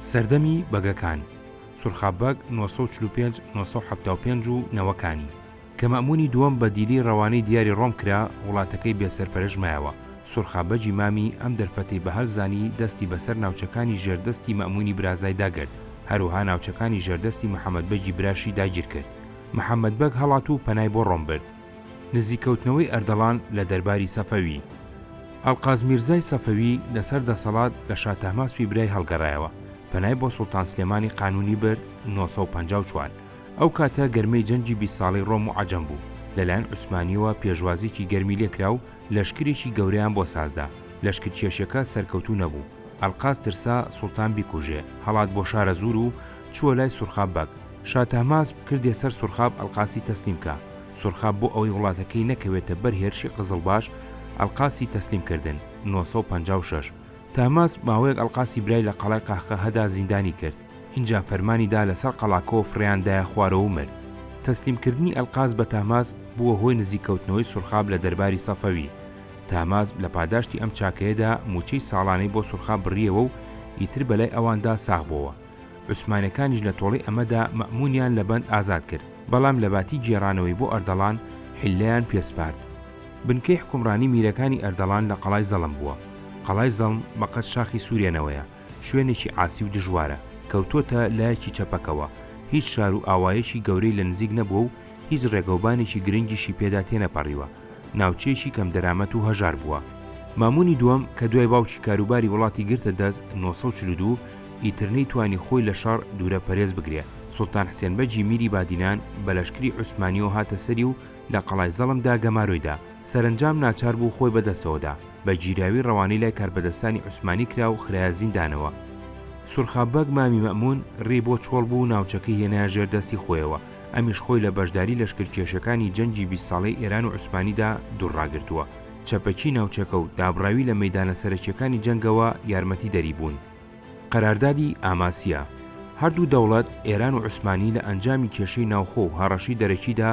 سەردەمی بەگەکان، سورخاب بەگ، نۆ سەد و چل و پێنج، نۆ سەد و حەفتا و پێنج، و نەوەکانی، کە مەئموونی دووەم بە دیلی ڕەوانەی دیاری ڕۆم کرا، وڵاتەکەی بێ سەرپەرش مایەوە، سورخاب بەگی مامی ئەم دەرفەتەی بە هەل زانی دەستی بە سەر ناوچەکانی ژێر دەستی مەئموونی برازای دا گرت، هەروەها ناوچەکانی ژێر دەستی محەمەد بەگی براشی داگیر کرد. محەمەد بەگ هەڵات و پەنای بۆ ڕۆم برد. نزیککەوتنەوەی ئەردەڵان لە دەرباری سەفەوی. ئەڵقاز میرزای سەفەوی لەسەر دەسەڵات لە شا تەهماسپی برای هەڵگەڕایەوە، پەنای بۆ سوڵتان سلێمانی قانوونی برد، نۆ سەد و پەنجا و چوار. ئەو کاتە گەرمەی جەنگی بیست ساڵەی ڕۆم و عەجەم بوو، لەلایەن عوسمانییەوە پێشوازییەکی گەرمی لێکرا و لەشکرێکی گەورەیان بۆ سازدا، لەشکرکێشییەکە سەرکەوتوو نەبوو، ئەلقاز ترسا سوڵتان بیکوژێ، هەڵات بۆ شارەزوور و چووە لای سوڕخاب بەگ. شا تەهماسب کردیە سەر سوڕخاب ئەلقاسی تەسلیم کا. سوڕخاب بۆ ئەوەی وڵاتەکەی نەکەوێتە بەر هێرشی قزڵباش، ئەلقاسی تەسلیم کردن، نۆ سەد و پەنجا و شەش. تەهماسب ماوەیەک ئەلقاسی برای لە قەڵای قەهقەهەدا زیندانی کرد. ئینجا فەرمانی دا لە سەر قەڵاکەوە فڕێیان دایە خوارەوە و مرد. تەسلیم کردنی ئەلقاز بە تەهماسب بووە هۆی نزیک کەوتنەوەی سوڕخاب لە دەرباری سەفەوی. تاماز لە پاداشتی ئەم چاکەیەدا مووچەی ساڵانەی بۆ سورخا بڕییەوە و ئیتر بەلای ئەواندا ساغ بۆوە. عوسمانەکانیش لە تۆڵەی ئەمەدا مەئموونیان لە بەند ئازاد کرد، بەڵام لەباتی گێڕانەوەی بۆ ئەردەڵان حیللەیان پێ سپارد. بنکەی حکومڕانی میرەکانی ئەردەڵان لە قەڵای زەڵم بووە. قەڵای زەڵم بە قەد شاخی سورێنەوەیە، شوێنێکی عاسی و دژوارە، کەوتۆتە لایەکی چەپەکەوە، هیچ شار و ئاوایەکی گەورەی لە نزیک نەبووە و هیچ ڕێگەوبانێکی گرنگیشی پێدا تێنەپەڕیوە، ناوچەیەکی کەم دەرامەت و هەژار بووە. مامونی دووەم کە دوای باوکی کاروباری وڵاتی گرتە دەست نۆ سەد و چل و دوو، ئیتر نەیتوانی خۆی لە شەڕ دوورە پەرێز بگرێ. سوڵتان حسێن بەگی میری بادینان بە لەشکری عوسمانیەوە هاتە سەری و لە قەڵای زەڵم دا گەمارۆی دا. سەرەنجام ناچار بوو خۆی بە دەستەوە دا. بە گیراوی ڕەوانەی لای کاربەدەستانی عوسمانی کرا و خرایە زیندانەوە. سورخاب بەگ مامی مەمون ڕێی بۆ چۆڵ بوو و ناوچەکەی هێنایە ژێر دەستی خۆیەوە. ئەمیش خۆی لە بەشداری لەشکرکێشەکانی جەنگی بیست ساڵەی ئێران و عوسمانیدا دوور ڕاگرتووە. چەپەکی ناوچەکە و دابڕاوی لە مەیدانە سەرەکییەکانی جەنگەوە یارمەتیدەری بوون. قەراردادی ئاماسیا هەردوو دەوڵەت، ئێران و عوسمانی لە ئەنجامی کێشەی ناوخۆ و هەڕەشەی دەرەکیدا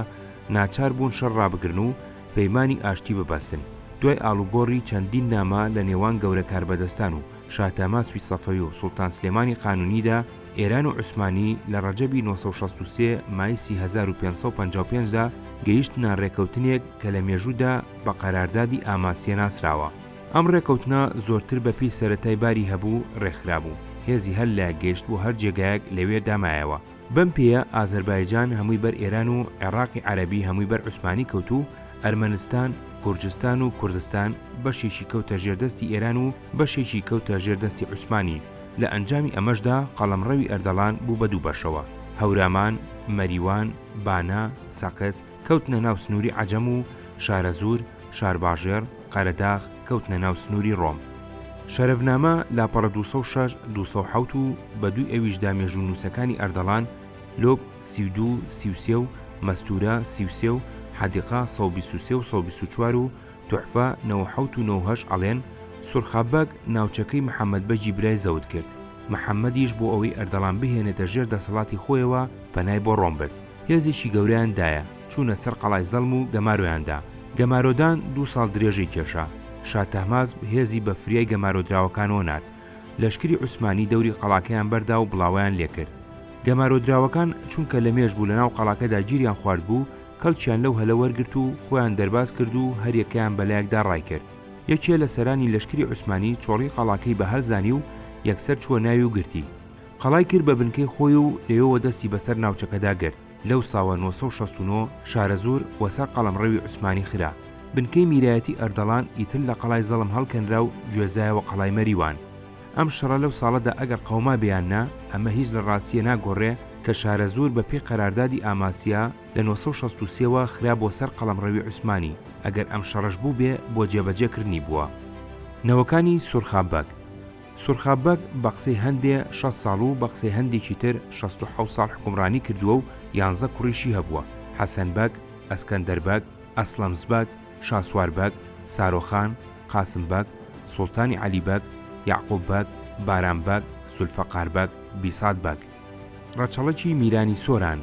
ناچار بوون شەڕ ڕابگرن و پەیمانی ئاشتی ببەستن. دوای ئاڵوگۆڕی چەندین نامە لە نێوان گەورە کاربەدەستان و شاه تەماسبی سەفەوی و سوڵتان سلێمانی قانونیدا، ئێران و عوسمانی لە ڕەجەبی نۆ سەد و شەست و سێ مایسی هەزار و پێنج سەد و پەنجا و پێنج دا گەیشتنە ڕێکەوتنێک کە لە مێژوودا بە قەراردادی ئاماسیە ناسراوە. ئەم ڕێکەوتنە زۆرتر بە پێی سەرەتای باری هەبوو ڕێکخرابوو. هێزی هەر لایەک گەیشت بوو هەر جێگایەک لەوێ دا مایەوە. بەم پێیە ئازەربایجان هەمووی بەر ئێران و عێڕاقی عەرەبی هەمووی بەر عوسمانی کەوت و ئەرمەنستان، گورجستان و کوردستان بەشێکی کەوتە ژێر دەستی ئێران و بەشێکی کەوتە ژێر دەستی عوسمانی، لە ئەنجامی ئەمەشدا قەڵەمڕەوی ئەردەڵان بوو بە دوو بەشەوە، هەورامان، مەریوان، بانە، سەقز، کەوتنە ناو سنووری عەجەم و شارەزوور، شارباژێڕ، قەرەداغ، کەوتنە ناو سنووری ڕۆم. شەرەفنامە، لاپەڕە دوو سەد و شەش، دوو سەد و حەوت و بە دووی ئەویشدا مێژوونووسەکانی ئەردەڵان، لۆپ، سی و دوو، سی و سێ و مەستوورە، سی و سێ و حەدیقە، سەد و بیست و سێ و سەد و بیست و چوار و، توحفە نۆ و حەوت و نۆ و هەشت ئەڵێن، سورخا بەگ ناوچەکەی محەمەد بەگی برای زەوت کرد، محەمەدیش بۆ ئەوەی ئەردەڵان بهێنێتە ژێر دەسەڵاتی خۆیەوە پەنای بۆ ڕۆم برد، هێزێکی گەورەیان دایە، چوونە سەر قەڵای زەڵم و گەمارۆیان دا، گەمارۆدان دوو ساڵ درێژەی کێشا، شا تەهماسب هێزی بە فریای گەمارۆدراوەکانەوە نارد، لەشکری عوسمانی دەوری قەڵاکەیان بەردا و بڵاوەیان لێکرد. گەمارۆدراوەکان چونکە لەمێژ بوو لەناو قەڵاکەدا گیریان خواردبوو، کەڵکیان لەو هەلە وەرگرت و خۆیان دەرباز کرد و هەر یەکەیان بە لایەکدا ڕایکرد. یەکێ لە سەرانی لەشکری عوسمانی چۆڕی قەڵاکەی بە هەل زانی و یەکسەر چووە ناوی و گرتی. قەڵای کرد بە بنکەی خۆی و لەوێوە دەستی بەسەر ناوچەکەدا گرت. لەو ساوە نۆ سەد و شەست و نۆ شارەزوور وە سەر قەڵەمڕەوی عوسمانی خرا. بنکەی میرایەتی ئەردەڵان ئیتر لە قەڵای زەڵم هەڵکەنرا و گوێزایەوە قەڵای مەریوان. ئەم شەڕە لەو ساڵەدا ئەگەر قەومابێ یان نا، ئەمە هیچ لە ڕاستییە ناگۆڕێ کە شارەزوور بە پێی قەراردادی ئاماسیا لە نۆ سەد و شەست و سێ وە خرا بۆ سەر قەڵەمڕەوی عوسمانی، ئەگەر ئەم شەڕەش بووبێ بۆ جێبەجێ کردنی بووە. نەوەکانی سورخا بەگ سورخا بەگ بە قسەی هەندێ شەست ساڵ و بە قسەی هەندێکی تر شەست و حەوت ساڵ حوکمڕانی کردووە و یانزە کوڕیشی هەبووە، حەسەن بەگ، ئەسکەندەر بەگ، ئەسڵەمس بەگ، شاسوار بەگ، سارۆ خان، قاسم بەگ، سوڵتانی عەلی بەگ، یەعقوب بەگ، بارام بەگ، زولفەقار بەگ، بیسات بەگ. ڕەچەڵەکی میرانی سۆران.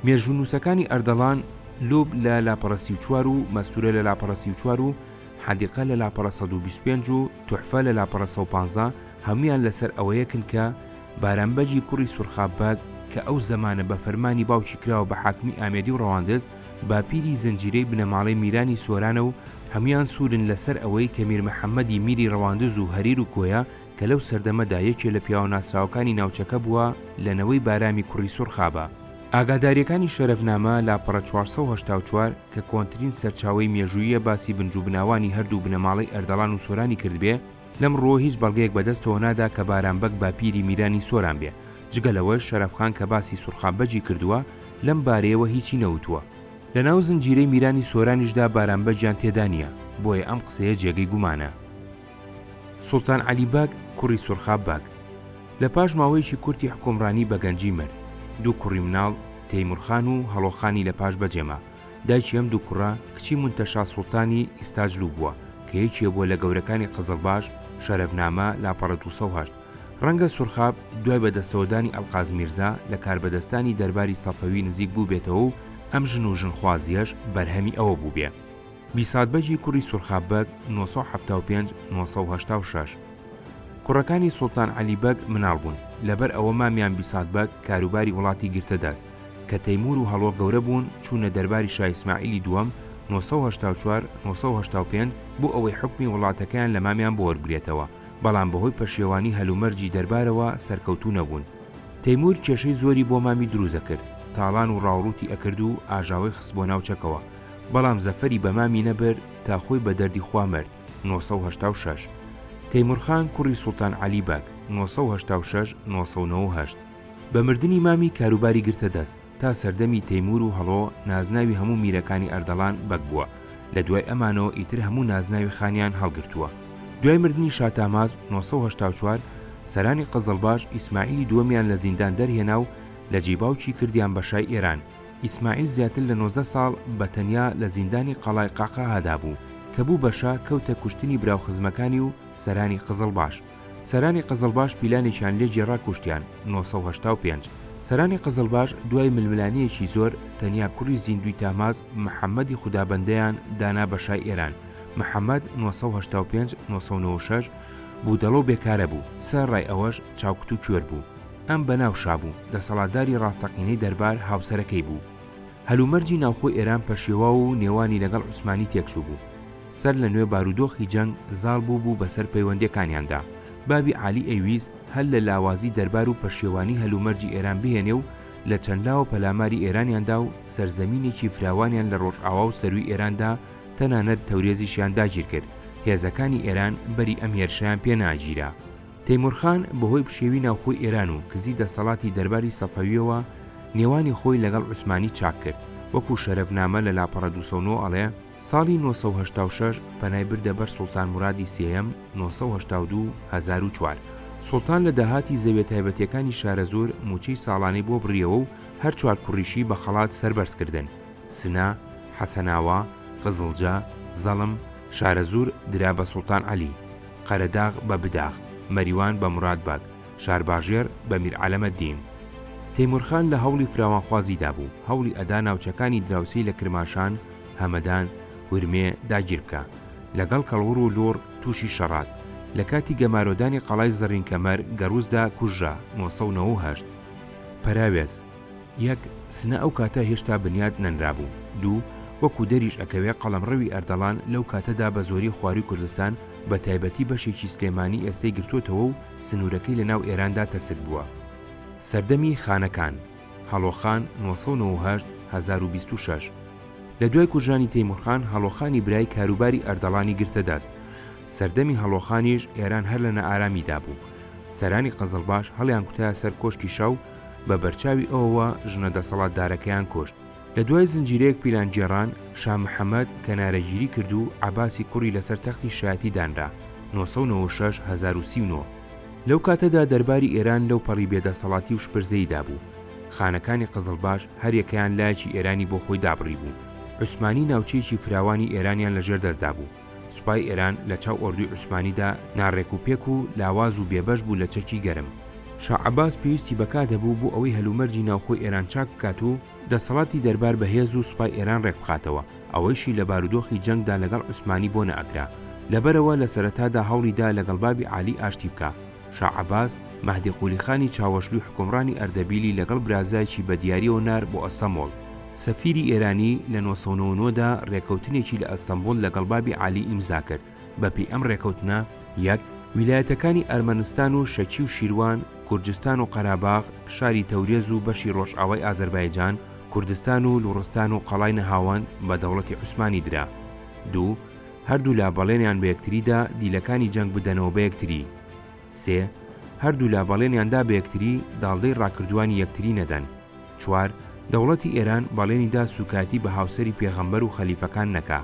مێژوونووسەکانی ئەردەڵان، لوب لە لاپەڕە سی و چوار و مەستوورە لە لاپەڕە سی و چوار و حەدیقە لە لاپەڕە سەد و بیست و پێنج و توحفە لە لاپەڕە سەد و پازدە هەموویان لەسەر ئەوە یەکن کە بارام بەگی کوڕی سورخاب بەگ کە ئەو زەمانە بە فەرمانی باوکی کراوە بە حاکمی ئامێدی و ڕەواندز باپیری زنجیرەی بنەماڵەی میرانی سۆرانە و هەموان سوورن لە سەر ئەوەی کە میر محەمەدی میری ڕەواندز و هەریر و کۆیە کە لەو سەردەمەدا یەکێ لە پیاوە ناسراوەکانی ناوچەکە بووە لە نەوەی بارامی کوڕی سوڕخابە. ئاگاداریەکانی شەرەفنامە، لاپەڕە چوار سەد و هەشتا و چوار، کە کۆنترین سەرچاوەی مێژووییە باسی بنجوبناوانی هەردوو بنەماڵەی ئەردەڵان و سۆرانی کردبێ، لەم ڕووەوە هیچ بەڵگەیەک بەدەستەوە نادا کە بارام بەگ باپیری میرانی سۆران بێ، جگە لەوەش شەرەف خان کە باسی سوڕخان بەگی کردووە لەم بارەیەوە هیچی نەوتووە. لە ناو زنجیرەی میرانی سۆرانیشدا بارام بەگیان تێدا نییە، بۆیە ئەم قسەیە جێگەی گومانە. سوڵتان عەلی بەگ، کوڕی سوڕخا بەگ، لە پاش ماوەیەکی کورتی حوکمڕانی بە گەنجی مرد. دوو کوڕی مناڵ، تەیمور خان و هەڵۆ خانی لە پاش بەجێ ما. دایکی ئەم دوو کوڕە، کچی منتەشا سوڵتانی ئیستاجلو بووە، کە یەکێ بووە لە گەورەکانی قزڵباش، شەرەفنامە، لاپەڕە دوو سەد و هەشت. ڕەنگە سورخاب دوای بەدەستەوەدانی ئەلقاز میرزا لە کاربەدەستانی دەرباری سەفەوی نزیک بووبێتەوە و ئەم ژن و ژنخوازییەش بەرهەمی ئەوە بووبێ بیسات بەگی کوڕی سورخاب بەگ، نۆ سەد و حەفتا و پێنج، نۆ سەد و هەشتا و شەش. کوڕەکانی سوڵتان عەلی بەگ مناڵ بوون، لەبەر ئەوە مامیان بیسات بەگ کاروباری وڵاتی گرتە دەست، کە تەیموور و هەڵۆ گەورە بوون چوونە دەرباری شا ئیسماعیلی دووەم، نۆ سەد و هەشتا و چوار، نۆ سەد و هەشتا و پێنج، بۆ ئەوەی حوکمی وڵاتەکەیان لە مامیان بۆ وەربگرێتەوە. بەڵام بەهۆی پەشێوانی هەلومەرجی دەربارەوە سەرکەوتوو نەبوون. تەیموور کێشەی زۆری بۆ مامی دروست ئەکرد، تاڵان و ڕاوڕووتی ئەکرد و ئاژاوەی خست بۆ ناو چەکەوە، بەڵام زەفەری بە مامی نەبرد تا خۆی بە دەردی خوا مرد، نۆ سەد و هەشتا و شەش. تەیموورخان کوڕی سوڵتان عەلی بەگ، نۆ سەد و هەشتا و شەش، نۆ سەد و نەوە و هەشت. بە مردنی مامی کاروباری گرتە دەست. تا سەردەمی تەیموور و هەڵۆ نازناوی هەموو میرەکانی ئەردەڵان بەگ بووە، لە دوای ئەمانەوە ئیتر هەموو نازناوی خانیان هەڵگرتووە. دوای مردنی شا تاماز، نۆ سەد و هەشتا و چوار، سەرانی قزڵباش ئیسماعیلی دووەمیان لە زیندان دەرهێنا و لە جێی باوکی کردیان بە شای ئێران. ئیسماعیل زیاتر لە نۆزدە ساڵ بە تەنیا لە زیندانی قەڵای قەعقەعادا بوو، کە بوو بە شا کەوتە کوشتنی براوخزمەکانی و سەرانی قزڵباش. سەرانی قزڵباش پیلانێکیان لێ گێڕا کوشتیان، نۆ سەد و هەشتا و پێنج. سەرانی قزڵباش دوای ململانێیەکی زۆر، تەنیا کوڕی زیندووی تاماز، محەممەدی خودابەندەیان دانا بە شای ئێران، محەممەد، نۆ سەد و هەشتا و پێنج، نۆ سەد و نەوەد و شەش، بوو دەڵەو بێکارە بوو، سە رای ئەوەش چاوکت و کوێر بوو. ئەم بە ناو شا بوو، دەسەڵاتداری ڕاستەقینەی دەربار هاوسەرەکەی بوو. هەلومەرجی ناوخۆی ئێران پەشێواو و نێوانی لەگەڵ عوسمانی تێکچوو بوو. سەر لە نوێ بارودۆخی جەنگ زاڵ بوو بوو بە سەر پەیوەندیەکانیاندا، بابی عالی ئەیویست هەر لە لاوازی دەربار و پەشێوانی هەلومەرجی ئێران بهێنێ و لە چەند لاوە پەلاماری ئێرانیان دا و سەرزەمینێکی فراوانیان لە ڕۆژئاوا و سەرووی ئێران دا تەنانەت تەورێزیشیان داگیر کرد هێزەکانی ئێران بەری ئەم هێرشەیان پێ ناگیرا. تەیموور خان بە هۆی پشێوی ناوخۆی ئێران و کزی دەسەڵاتی دەرباری سەفەویەوە نێوانی خۆی لە گەڵ عوسمانی چاک کرد، وەکوو شەرەفنامە لە لاپەڕە دوو سەد و نۆ ئەڵێ، ساڵی نۆ سەد و هەشتا و شەش پەنای بردە بەر سوڵتان مورادی سێیەم، نۆ سەد و هەشتا و دوو، هەزار و چوار. سوڵتان لە داهاتی زەویە تایبەتیەکانی شارەزوور مووچەی ساڵانەی بۆ بڕیەوە و هەر چوار کوڕیشی بە خەڵات سەربەرز کردن، سنە، حەسەناوا، قزڵجە، زەڵم، شارەزوور درا بە سوڵتان عەلی، قەرەداغ بە بداغ، مەریوان بە موراد بەگ، شارباژێڕ بە میر عەلەمەدین. تەیموور خان لە هەوڵی فراوانخوازیدا بوو، هەوڵی ئەدا ناوچەکانی دراوسێی لە کرماشان، هەمەدان، ورمێ، داگیر بکە. لەگەڵ کەڵوڕ و لوڕ تووشی شەڕات. لە کاتی گەمارۆدانی قەڵای زەڕینکەمەر، گەڕووسدا کوژرا، نۆ سەد و نەوە و هەشت. پەراوێز. یەک، سنە ئەو کاتە هێشتا بنیات نەنرابوو. دوو، وەکوو دەریش ئەکەوێ قەڵەمڕەوی ئەردەڵان لەو کاتەدا بە زۆری خوارووی کوردستان بە تایبەتی بەشێکی سلێمانی ئێستەی گرتۆتەوە و سنوورەکەی لە ناو ئێراندا تەسک بووە. سەردەمی خانەکان. هەڵۆخان، نۆ سەد و نەوە و هەشت، هەزار و بیست و شەش. لە دوای کوژرانی تەیموورخان، هەڵۆخانی برای کاروباری ئەردەڵانی گرتە دەست. سەردەمی هەڵۆخانیش ئێران هەر لە نائارامیدا بوو. سەرانی قزڵباش هەڵیانکوتایە سەر کۆشکی شا و بە بەرچاوی ئەوەوە ژنە دەسەڵاتدارەکەیان کوشت. لە دوای زنجیرەیەک پیلانگێڕان، شا محەمەد کەنارەگیری کرد و عەباسی کوڕی لەسەر تەختی شایەتی دانرا، نۆ سەد و نەوەد و شەش هەزار و سی و نۆ. لەو کاتەدا دەرباری ئێران لەو پەڕی بێدەسەڵاتی و شپرزەییدا بوو. خانەکانی قزڵباش هەر یەکەیان لایەکی ئێرانی بۆ خۆی دابڕیبوو. عوسمانی ناوچەیەکی فراوانی ئێرانیان لەژێر دەستدا بوو. سوپای ئێران لە چاو ئۆردوی عوسمانیدا ناڕێک و پێک و لاواز و بێبەش بوو لە چەکی گەرم. شا عەباس پێویستی بە کات هەبوو بۆ ئەوەی هەلومەرجی ناوخۆی ئێران چاک بکات و دەسەڵاتی دەربار بە هێز و سوپای ئێران ڕێک بخاتەوە، ئەوەیشی لە بارودۆخی جەنگدا لەگەڵ عوسمانی بۆ نەئەکرا. لەبەرئەوە لە سەرەتادا هەوڵی دا لەگەڵ بابی عالی ئاشتی بکا. شا عەباس، مەهدی قولیخانی چاوەشلوی حوکمڕانی ئەردەبیلی لەگەڵ برازایەکی بە دیاریەوە نارد بۆ ئەستەمۆڵ. سەفیری ئێرانی لە نۆ سەد و نەوەد و نۆ دا رێکەوتنێکی لە ئەستەمبوڵ لەگەڵ بابی عالی ئیمزا کرد، بە پێی ئەم رێکەوتنە، یەک، ویلایەتەکانی ئەرمەنستان و شەکی و شیروان، گورجستان و قەراباغ، شاری تەورێز و بەشی رۆژئاوای ئازەربایجان، کوردستان و لوڕستان و قەڵای نەهاوەند بە دەوڵەتی عوسمانی درا. دوو. هەردوولا بەڵێنیان بە یەکتری دا دیلەکانی جەنگ بدەنەوە بە یەکتری. سێ، هەردوولا بەڵێنیان دا بە یەکتری داڵدەی ڕاکردووانی یەکتری نەدەن. چوار، دەوڵەتی ئێران بەڵێنی دا سووکایەتی بە هاوسەری پێغەمبەر و خەلیفەکان نەکا.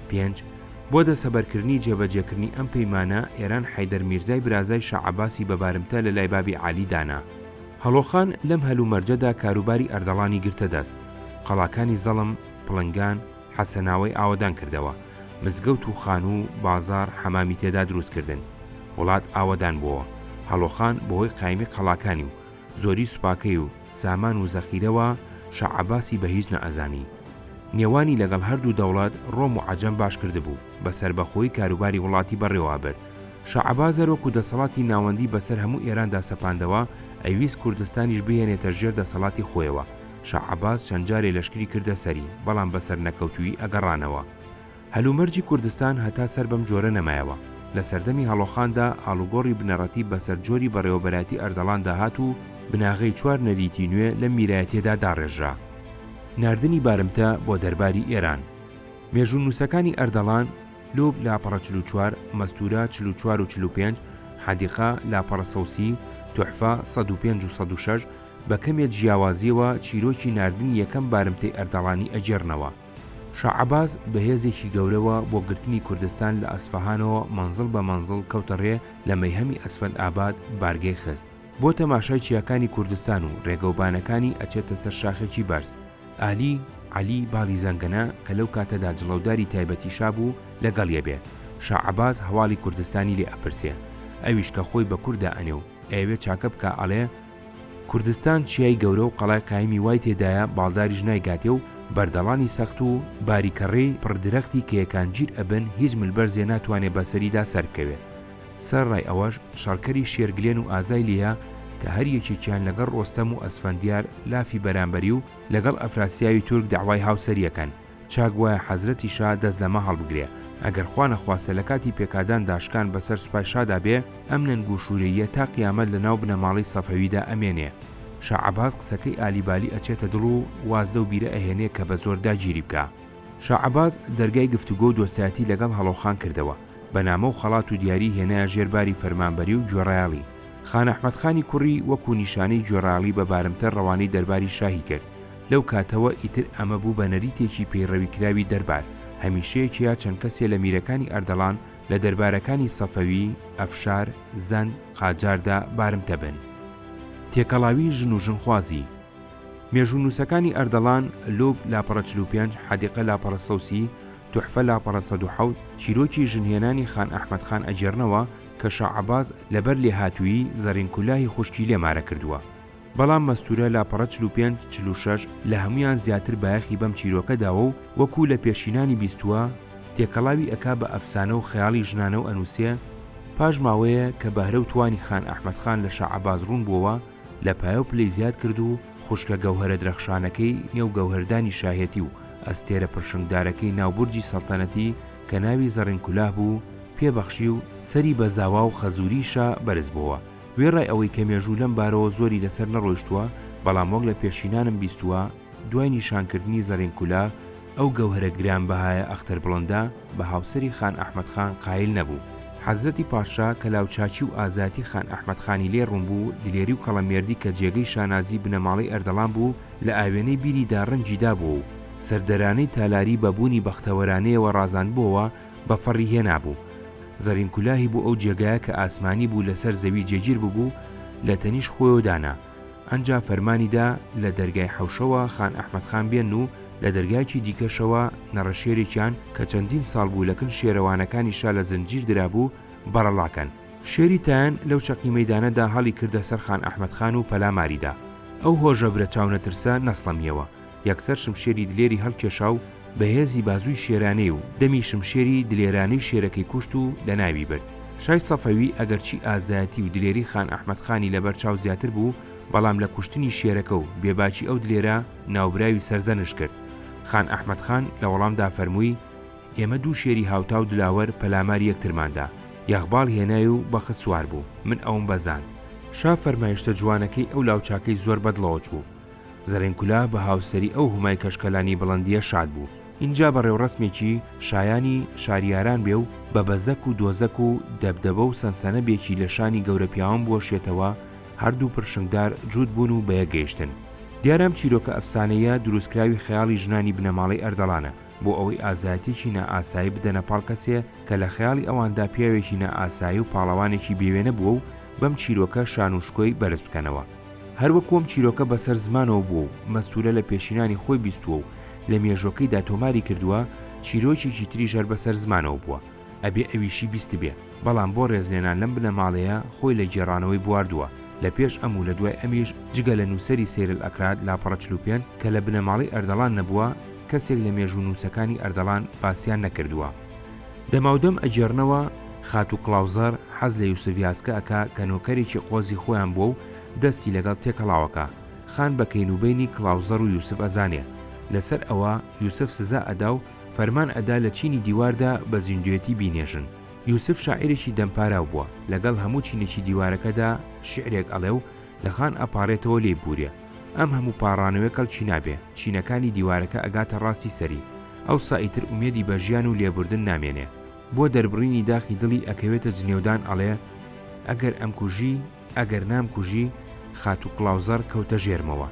پێنج، بۆ دەسەبەرکردنی جێبەجێکردنی ئەم پەیمانە ئێران حەیدەر میرزای برازای شا عەباسی بە بارمتە لە لای بابی عالی دانا. هەڵۆخان لەم هەلومەرجەدا کاروباری ئەردەڵانی گرتە دەست، قەڵاکانی زەڵم، پڵنگان، حەسەناوەی ئاوەدان کردەوە، مزگەوت و خانوو و بازاڕ حەمامی تێدا دروست کردن، وڵات ئاوەدان بۆوە، هەڵۆخان بەهۆی قایمی قەڵاکانی و زۆری سوپاکەی و سامان و زەخیرەوە شا عەباسی بە هیچ نەئەزانی. نێوانی لەگەڵ هەردوو دەوڵەت ڕۆم و عەجەم باش کردبوو، بە سەربەخۆیی کاروباری وڵاتی بەڕێوە ئەبرد، شا عەباس هەر وەکوو دەسەڵاتی ناوەندی بەسەر هەموو ئێراندا سەپاندەوە، ئەیویست کوردستانیش بهێنێتە ژێر دەسەڵاتی خۆیەوە، شا عەباس چەند جارێ لەشکری کردە سەری، بەڵام بە سەرنەکەوتوویی ئەگەڕانەوە. هەلومەرجی کوردستان هەتا سەر بەم جۆرە نەمایەوە. لە سەردەمی هەڵۆخاندا ئاڵوگۆڕی بنەڕەتی بەسەر جۆری بەڕێوەبەرایەتی ئەردەڵاندا هات و بناغەی چوار نەریتی نوێ لەم میرایەتیەدا داڕێژرا. ناردنی بارمتە بۆ دەرباری ئێران. مێژوونووسەکانی ئەردەڵان، لوب، لاپەڕە چل و چوار، مەستوورە، چل و چوار و چل و پێنج، حەدیقە، لاپەڕە سەوسی، توحفە، سەد و پێنج و سەد و شەش، بە کەمێ جیاوازیەوە چیرۆکی ناردنی یەکەم بارمتەی ئەردەڵانی ئەگێڕنەوە. شا عەباس بە هێزێکی گەورەوە بۆ گرتنی کوردستان لە ئەسفەهانەوە مەنزڵ بە مەنزڵ کەوتە ڕێ لە مەیهەمی ئەسفەند ئاباد بارگەی خست بۆ تەماشای چیاکانی کوردستان و ڕێگەو بانەکانی ئەچێتە سەر شاخێکی بەرز. ئالی عەلی باڵی زەنگەنە کە لەو کاتەدا جڵەوداری تایبەتی شا بوو لە گەڵیە بێ. شا عەباس هەواڵی کوردستانی لێ ئەپرسێ. ئەویش کە خۆی بە کوردا ئەنێ و ئەیەوێ چاکە بکا ئەڵێ، کوردستان چیای گەورە و قەڵای قایمی وای تێدایە باڵداریش نایگاتێ و بەردەڵانی سەخت و باریکەڕی پڕ درەختی کێیەکان گیر ئەبن هیچ ملبەرزێ ناتوانێ بەسەریدا سەربکەوێ سەرەڕای ئەوەش شەڕکەری شێرگلێن و ئازای لێیە کە هەر یەکێکیان لەگەڵ ڕۆستەم و ئەسفەندیار لافی بەرامبەری و لەگەڵ ئەفراسیاوی تورک دەعوای هاوسەریەکەن. چاک وایە حەزرەتی شا دەست لەمە هەڵبگرێ، ئەگەر خوا نەخواستە لە کاتی پێکادان دا شکان بە سەر سوپای شادا بێ، ئەم نەنگ و شوورەییە تا قیامەت لە ناو بنەماڵەی سەفەوی دا ئەمێنێ. شا عەباس قسەکەی ئالی بالی ئەچێتە دڵ و واز لەو بیرە ئەهێنێ کە بە زۆر داگیری بکا. شا عەباس دەرگای گفتوگۆ و دۆستایەتی لە گەڵ هەڵۆخان کردەوە، بە نامە و خەڵات و دیاری هێنایە ژێر باری فەرمانبەری و گوێڕایەڵی. خان ئەحمەد خانی کوڕی وەکوو نیشانەی گوێڕایەڵی بە بارمتە ڕەوانەی دەرباری شاهی کرد، لەو کاتەوە ئیتر ئەمە بوو بە نەریتێکی پەیڕەویکراوی دەربار، هەمیشەیەک یا چەند کەسێ لە میرەکانی ئەردەڵان لە دەربارەکانی سەفەوی، ئەفشار، زەند، قاجاردا بارمتە بن. تێکەڵاویی ژن و ژنخوازی. مێژوونووسەکانی ئەردەڵان، لوب، لاپەڕە چل و پێنج، حەدیقە لاپەڕە سەد و سی، توحفە لاپەڕە سەد و حەوت، چیرۆکی ژنهێنانی خان ئەحمەد خان ئەگێڕنەوە کە شا عەباس لەبەر لێهاتوویی زەڕین کولاهی خوشکی لێ مارە کردووە. بەڵام مەستوورە لاپەڕە چل و پێنج، چل و شەش لە هەموویان زیاتر بایەخی بەم چیرۆکە داوە و وەکوو لە پێشینانی بیستووە، تێکەڵاوی ئەکا بە ئەفسانە و خەیاڵی ژنانە و ئەنووسێ، پاش ماوەیە کە بەهرە و توانی خان ئەحمەد خان لە شاعەباس ڕوون بووەوە، لە پایە و پلەی زیاد کرد و خوشکە گەوهەرە درەخشانەکەی نێو گەوهەردانی شاهێتی و ئەستێرە پرشنگدارەکەی ناو بورجی سەڵتەنەتی کە ناوی زەڕینکولاه بوو، پێ بەخشی و سەری بە زاوا و خەزووری شا بەرز بۆوە. وێڕای ئەوەی کە مێژوو لەم بارەوە زۆری لەسەر نەڕۆیشتووە، بەڵام وەک لە پێشینانم بیستووە، دوای نیشانکردنی زەڕین کولا، ئەو گەوهەرە گرانبەهایە ئەختەر بڵندە بە هاوسەری خان ئەحمەد خان قایل نەبوو. حەزرەتی پادشا کە لاوچاکی و ئازایەتی خان ئەحمەد خانی لێ ڕوون بوو، دلێری و کەڵەمێردی کە جێگەی شانازیی بنەماڵەی ئەردەڵان بوو، لە ئاوێنەی بیریدا ڕەنگی دابووە و سەردەرانەی تالاری بە بوونی بەختەوەرانەیەوە ڕازاندبووەوە، بە فەڕی هێنابوو. زەڕین کولاهی بۆ ئەو جێگایە کە ئاسمانی بوو لە سەر زەوی جێگیر ببوو، لە تەنیشت خۆیەوە دانا. ئەنجا فەرمانی دا لە دەرگای حەوشەوە خان ئەحمەد خان بێن و لە دەرگایەکی دیکەشەوە نەڕەشێرێکیان کە چەندین ساڵ بوو لە کن شێرەوانەکانی شا لە زنجیر درابوو، بەڕەڵا کەن. شێری تایەن لەو چەقی مەیدانە دا هەڵی کردە سەر خان ئەحمەد خان و پەلاماری دا. ئەو هۆژەبرە چاونەترسە نەسڵەمییەوە، یەکسەر شمشێری دلێری هەڵکێشا و بە هێزی بازووی شێرانەی و دەمی شمشێری دلێرانەی شێرەکەی کوشت و لە ناوی برد. شای سەفەوی ئەگەرچی ئازایەتی و دلێری خان ئەحمەد خانی لە بەر چاو زیاتر بوو، بەڵام لە کوشتنی شێرەکە و بێباکی ئەو دلێرە ناوبراوی سەرزەنشت کرد. خان ئەحمەد خان لە وەڵامدا فەرمووی، ئێمە دوو شێری هاوتا و دلاوەر پەلاماری یەکترمان دا، یەغباڵ هێنای و بەخت سوار بوو، من ئەوم بەزاند. شا فەرمایشتە جوانەکەی ئەو لاوچاکەی زۆر بە دڵەوە چوو. زەڕین کولا بە هاوسەری ئەو هومای کەشکەلانی بڵندییە شاد بوو. ئینجا بە ڕێوڕەسمێکی شایانی شاریاران بێ و بە بەزەک و دۆزەک و دەبدەبە و سەنسەنە بێکی لە شانی گەورە پیاوان بوەشێتەوە، هەر دوو پرشنگدار جووت بوون و بە یەک گەیشتن. دیارە ئەم چیرۆکە ئەفسانەییە درووستکراوی خەیاڵی ژنانی بنەماڵەی ئەردەڵانە، بۆ ئەوەی ئازایەتییەکی نائاسایی بدەنە پاڵ کەسێ کە لە خەیاڵی ئەواندا پیاوێکی نائاسایی و پاڵەوانێکی بێوێنە بووە و بەم چیرۆکە شان و شکۆی بەرز بکەنەوە. هەروەکو ئەم چیرۆکە بەسەر زمانەوە بووە و مەستوورە لە پێشینانی خۆی بیستووە و لە مێژووەکەیدا تۆماری کردووە، چیرۆکێکی تریش هەر بەسەر زمانەوە بووە، ئەبێ ئەویشی بیستبێ، بەڵام بۆ ڕێزلێنان لەم بنەماڵەیە خۆی لە گێڕانەوەی بواردووە، لە پێش ئەم و لە دوای ئەمیش جگە لە نووسەری سیر الاکراد لاپەڕە چل و پێنج کە لە بنەماڵەی ئەردەڵان نەبووە، کەسێک لە مێژوونووسەکانی ئەردەڵان باسیان نەکردووە. دەماودەم ئەگێڕنەوە خاتوو کڵاوزار حەز لە یوسف یاسکە ئەکا کە نۆکەرێکی قۆزی خۆیان بووە و دەستی لەگەڵ تێکەڵاوەکا، خان بە کەینوبەینی کڵاوزەڕ و یوسف ئەزانێ، لەسەر ئەوە یوسف سزا ئەدا و فەرمان ئەدا لە چینی دیواردا بە زیندووێتی بینێژن. یوسف شاعیرێکی دەمپاراو بووە، لەگەڵ هەموو چینێکی دیوارەکەدا شیعرێک ئەڵێ و، لە خان ئەپاڕێتەوە لێی بورێ ئەم هەموو پاڕانەوێ کەڵکی نابێ چینەکانی دیوارەکە ئەگاتە ڕاستی سەری ئەوسا ئیتر ئومێدی بە ژیان و لێبوردن نامێنێ بۆ دەربڕینی داخی دڵی ئەکەوێتە جنێودان ئەڵێ ئەگەر ئەمکوژی ئەگەر نامکوژی خاتوو کڵاوزەڕ کەوتە ژێرمەوە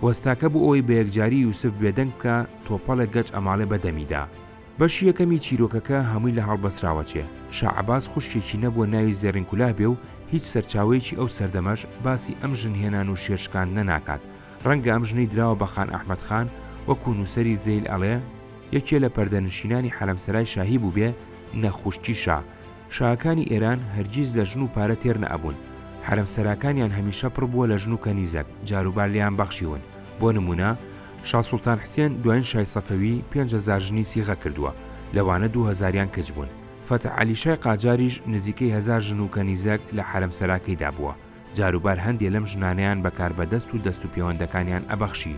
وەستاکە بۆ ئەوەی بە یەکجاری یوسف بێدەنگ بکا تۆپەڵێک گەچ ئەماڵێ بە دەمیدا بەشی یەکەمی چیرۆکەکە هەمووی لە هەڵبەسراوە چێ، شا عەباس خوشکێکی نەبووە ناوی زێڕین کولاه بێ و هیچ سەرچاوەیەکی ئەو سەردەمەش باسی ئەم ژن هێنان و شێر شکاندنە ناکات، ڕەنگە ئەم ژنەی دراوە بە خان ئەحمەد خان وەکوو نووسەری ذیل ئەڵێ، یەکێ لە پەردەنشینانی حەرەمسەرای شاهی بووبێ نەک خوشکی شا، شاکانی ئێران هەرگیز لە ژن و پارە تێر نەئەبوون، حەرەمسەراکانیان هەمیشە پڕ بووە لە ژن و کەنیزەک جاروبار لێیان بەخشیون، بۆ نموونە، شا سوڵتان حسێن دوایین شای سەفەوی پێنج هەزار ژنی سیغە کردووە، لەوانە دوو هەزاریان کچ بوون. فەتح عەلی شای قاجاریش نزیکەی هەزار ژن و کەنیزەک لە حەرەمسەراکەیدا بووە، جاروبار هەندێ لەم ژنانەیان بە کاربەدەست و دەست و پێوەندەکانیان ئەبەخشی.